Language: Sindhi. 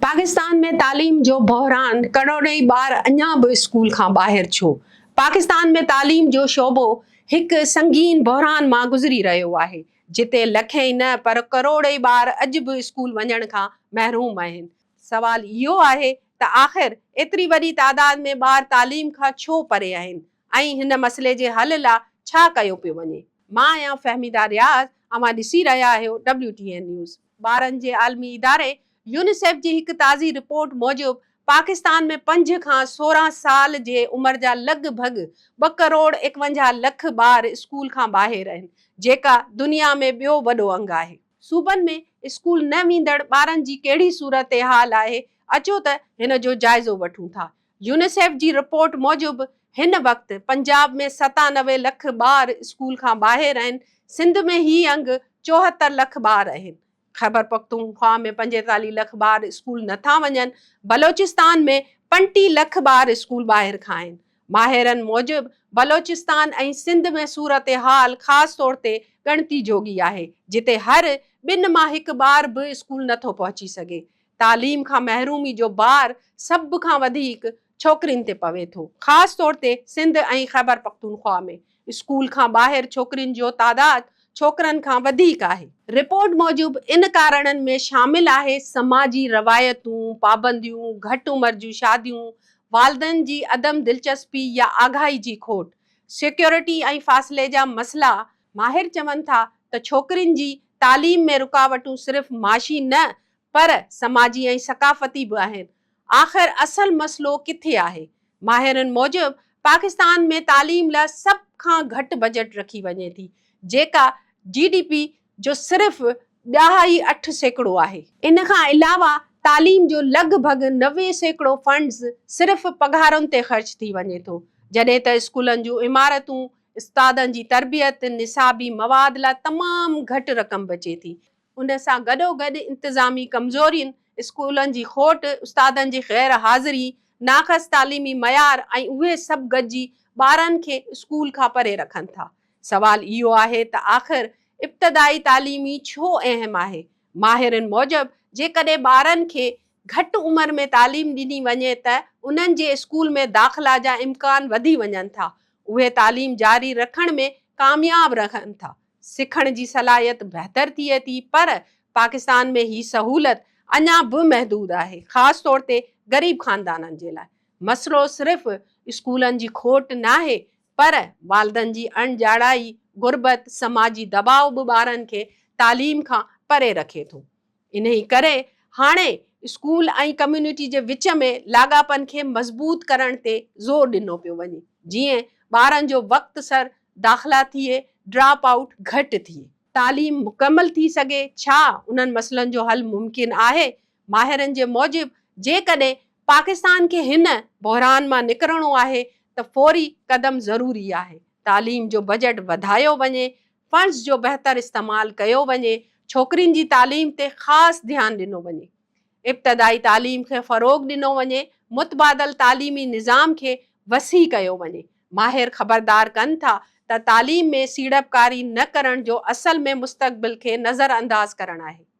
پاڪستان ۾ تعليم جو بحران، ڪروڙين ٻار اڃا به اسڪول کان ٻاهر ڇو؟ پاڪستان ۾ تعليم جو شعبو هڪ سنگين بحران مان گذري رهيو آهي، جتي لکين ئي نه پر ڪروڙين ٻار اڄ به اسڪول وڃڻ کان محروم آهن. سوال اهو آهي ته آخر ايتري وڏي تعداد ۾ ٻار تعليم کان ڇو پري آهن؟ ۽ هن مسئلي جي حل لا ڇا ڪيو پيو وڃي. مان آهيان فهميده رياض اوهان ڏسي رهيا آهيو ڊبليو ٽي اين نيوز. ٻارن جي عالمي اداري يونيسيف جي هڪ تازي رپورٽ موجب پاڪستان ۾ پنج کان سورهن سال جي عمر جا لڳ ڀڳ ٻه ڪروڙ ايڪونجاهه لک ٻار اسڪول کان ٻاهر اهن جيڪا دنيا ۾ ٻيو وڏو انگ آهي. صوبن ۾ اسڪول نه ويندڙ ٻارن جي ڪهڙي صورتحال آهي اچو ته هن جو جائزو وٺون ٿا. يونيسيف جي رپورٽ موجب هن وقت پنجاب ۾ ستانوي لک ٻار اسڪول کان ٻاهر آهن، سنڌ ۾ هي انگ چوهتر لک ٻار آهن. خيبرپختونخوا ۾ پنجيتاليهه لک ٻار اسڪول نه ٿا وڃن، بلوچستان ۾ پنٽيهه لک ٻار اسڪول ٻاهر کان آهن. ماهرن موجب بلوچستان ۽ سنڌ ۾ صورتحال خاص طور تي ڳڻتي جوڳي آهي، جتي هر ٻن مان هڪ ٻار به اسڪول نه ٿو پهچي سگهي، تعليم کان محرومي جو بار سڀ کان وڌيڪ ڇوڪرين تي پوي ٿو، خاص طور تي سنڌ ۽ خيبرپختونخوا ۾ اسڪول کان ٻاهر ڇوڪرين جو تعداد ڇوڪرن کان وڌيڪ آهي. رپورٽ موجب ان ڪارڻن ۾ شامل آهي سماجي روايتون، پابنديون، گهٽ عمر جون شاديون، والدين جي عدم دلچسپي يا آگاهي جي کوٽ، سيڪيورٽي ۽ فاصلي جا مسئلا، ماهر چون ٿا ته ڇوڪرين جي تعليم ۾ رڪاوٽون صرف معاشي نه پر سماجي ۽ ثقافتي به آهن. آخر اصل مسئلو ڪٿي آهي؟ ماهرن موجب پاڪستان ۾ تعليم لا سڀ کان گهٽ بجيٽ رکي وڃي ٿي، جيڪا جي ڊي پي جو صرف ڏهائي اٺ سيڪڙو آهي. ان کان علاوه تعليم جو لڳ ڀڳ نوي سيڪڙو فنڊز صرف پگهارن تي خرچ ٿي وڃي ٿو، جڏهن ته اسڪولن جون عمارتون، استادن جي تربيت، نصابي مواد لا تمام گهٽ رقم بچي ٿي. ان سان گڏوگڏ انتظامي ڪمزورين، اسڪولن جي کوٽ، استادن جي غير حاضري، ناقص تعليمي معيار ۽ اهي سڀ گڏجي ٻارن کي اسڪول کان پري رکن ٿا. سوال اهو آهي ته آخر ابتدائي تعليم ئي ڇو اهم آهي؟ ماهرن موجب جيڪڏهن ٻارن کي گهٽ عمر ۾ تعليم ڏني وڃي ته انهن جي اسڪول ۾ داخلا جا امڪان وڌي وڃن ٿا، اهي تعليم جاري رکڻ ۾ ڪامياب رهن ٿا. سکڻ جي صلاحيت بهتر ٿئي ٿي پر پاڪستان ۾ هي سهولت اڃا به محدود آهي خاص طور تي غريب خاندانن جي لاء مسئلو صرف اسڪولن جي کوٽ ناهي پر والدن جي اڻ ڄاڻائي، غربت، سماجي دٻاء به ٻارن کي تعليم کان پري رکي ٿو انهيء ڪري هاڻي اسڪول ۽ ڪميونٽي جي وچ ۾ لاڳاپن کي مضبوط ڪرڻ تي زور ڏنو پيو وڃي، جيئن ٻارن جو وقت سر داخلا ٿئي، ڊراپ آئوٽ گهٽ ٿئي. تعليم مڪمل ٿي سگهي، ڇا انهن مسئلن جو حل ممڪن آهي؟ ماهرن جي موجب جيڪڏهن پاڪستان کي هن بحران مان نڪرڻو آهي ته فوري قدم ضروري آهي، تعليم جو بجٽ وڌايو وڃي، فنڊز جو بهتر استعمال ڪيو وڃي، ڇوڪرين جي تعليم تي خاص ڌيان ڏنو وڃي، ابتدائي تعليم کي فروغ ڏنو وڃي، متبادل تعليمي نظام کي وسيع ڪيو وڃي. ماهر خبردار ڪن ٿا ته تعليم ۾ سيڙپڪاري نه ڪرڻ جو اصل ۾ مستقبل کي نظرانداز ڪرڻ آهي.